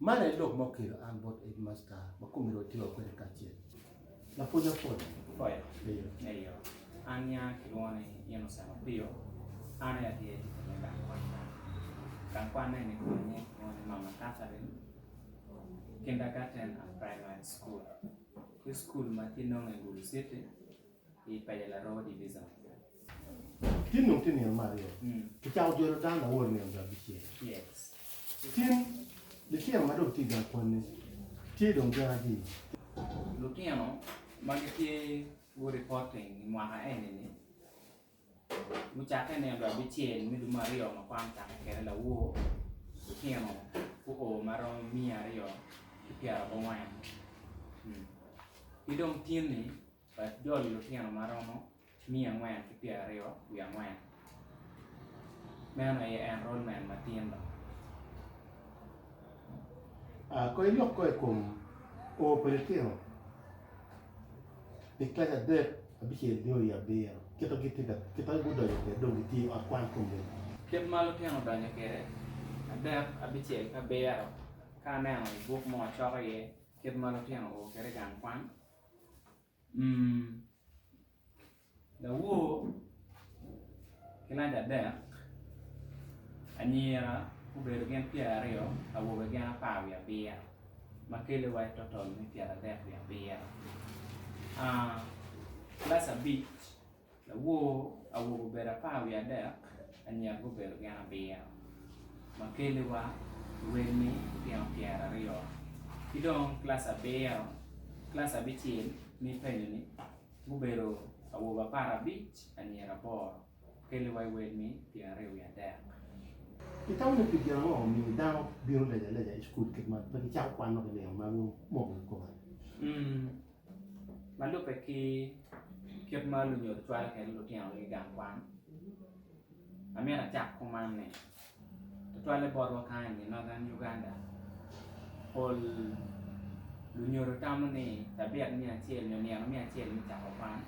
Man aye lok ma okelo an bot Headmaster ma kome ru atyeka kwede kacel lapwony Apoyo. Apoyo, Eyo, an nya kilwongo ni Innocent Opio, an aye atye ticca me gang kwan ka. Gang kwan eni kome nying kilwongo ni Mama Catherine Kindergarten and Primary School. Wi school ma tye nongo i Gulu City i penya Larowo Division. Tin dong tye nino me aryo, kicako jolo dano awor nino dong abicel. Tin litino ma dong tye i gang kwanni tye dong gin adii. Lutino ma gitye guripoting i mwaka eni-ni gucakke nino dong abicel me dwe me aryo ma kwan ocakke kwede lawoo, lutino guo ma romo miya aryo ki pyerabongwen. Ki dong tin-ni. Pat jol lutino ma romo miya angwen ki pyer aryo wiye angwen. Meno aye enrolmen ma tin do. Kono ilok ko i kom oo pa litino pi kec adek, abicel nyo i abiro. Kit ma gudonyo kwede dong gitye i ot kwan kom mene? Kit ma lutino odonyo kwede, adek, abicel ki abiro. Ka aneno i buk mo acoko iye kit ma lutino oo kwede i gang kwan, Lawor ki lac adek anyira gubedo gin pyera aryo awobe gin apar wiye abiro ma kele wa total me pyera adek wiye abiro kilaci abic. Lawor awobe obedo apar wiye adek, anyira gubedo gin abiro, ma keliwa lwelni tino pyeraryo. Ki dong kilaci abiro, kilaci abicel ma i penyo-ni gubedo awobe aparabic, anyira aboro, keliwa i welmi pyera aryo wiye adek. Itamo ni pi gin ango omiyo dano bino lejaleja i cukul kit man pe gicako kwano ki nino ma gumoko i kome? Ma lubbe ki kit ma lunyodo cwalo kwede lutinogi i gang kwan, amito acak kuman ni, tutwalle botwa kany i Northern Uganda, pol lunyodo tamo ni cabit me acel nyo nino me acel me cako kwan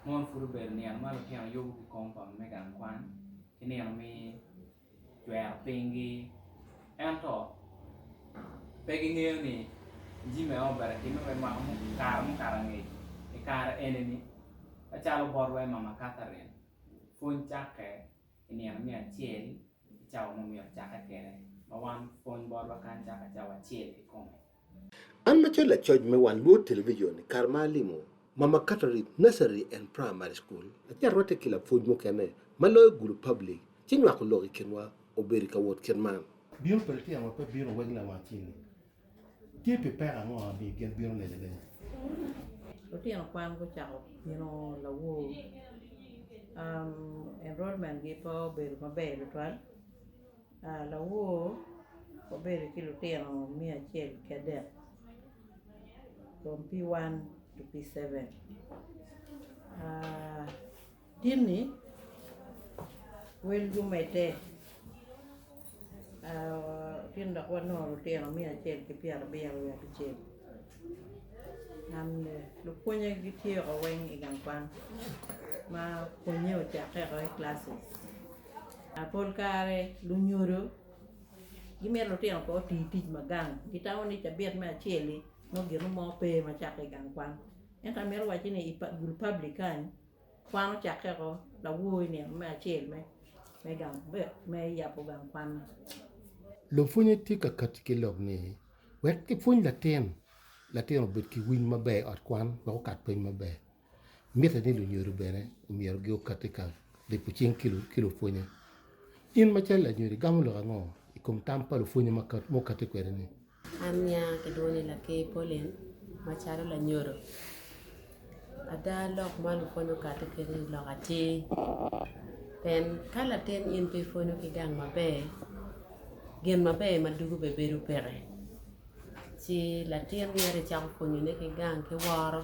mono pud obedo nino ma lutino yubo ki kom pa me gang kwan ki nino me cwero pinygi. Ento pe gingeyo ni jami aye obalo timme me mwaka mo i kare mukato angec. I kare eni-ni, macalo bot wai mama Catherine, pwony cakke i nino me acel i cawa ma omyero cakke kwede, ma wan pwony botwa kany cakke cawa acel kikome. An macalo lacoc me wang luot television i kare ma alimo Mama Catherine Nursery and Primary School, ace arwatte ki lapwony mukene ma loyo gulu public ci nywako lok i kinwa obedo i ka wot kit man. Bino pa litino ma pe bino weg lawang-ceng-ngi tye pi peko ango ma miyo gin bino lenyo alenya? Lutino kwan gucako bino lawor. Enrollment-gi pe obedo maber tutwal. Lawor obedo ki lutino me acel ki adek from P1 to P7 Timmy wel gumedde gin dok wanongo lutino me acel ki pyerabiro wiye abicel lupwonye gityeko weng i gang kwan ma pwonnye ocakke woko i classes. Pol kare lunyodo gimito lutino pe oti tic ma gang, gitamo ni cabit me acel-li nongo gin mo pe ma cakke i gang kwan. Ento amito wacci ni i gulu public kany, kwan ocakke woko lawo i nino me acel me gang me yabo gang kwan. Lupwonye tye ka kati ki lok ni wek kipwony latin latin obed ki winy maber i ot kwan wek okat pwony maber. Mitte ni lunyodo bene omyero giokat i kang lipo cing ki lupwonye. In macalo lanyodo igamo lok ango i kom tam pa lupwonye ma okatti kwede-ni? An nya kilwongo ni Laker Pauline macalo lanyodo ada lok ma lupwonye okatti kwede-ni lok atir pien ka latin in pe ipwonyo ki gang maber gin maber ma ducu bene bedo peke ci latin myero icako pwonyone ki gang ki woro.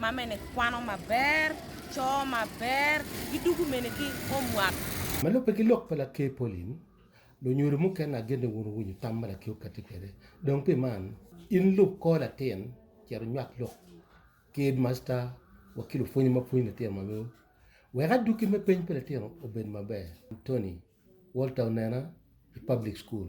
ma mene kwano maber, coo maber, gi dugu mene ki homework. Ma lubbe ki lok pa Laker Pauline, lunyodo mukene agen ni wun wuwinyo tam ma Laker okatti kwede. Dong pi man, in lub kor latin cito inywak lok ki Headmaster wa ki lupwonye ma pwonyo litino ma weu wek adwogi me peny pa litino obed maber. Tony, Walter Onena, i Public School,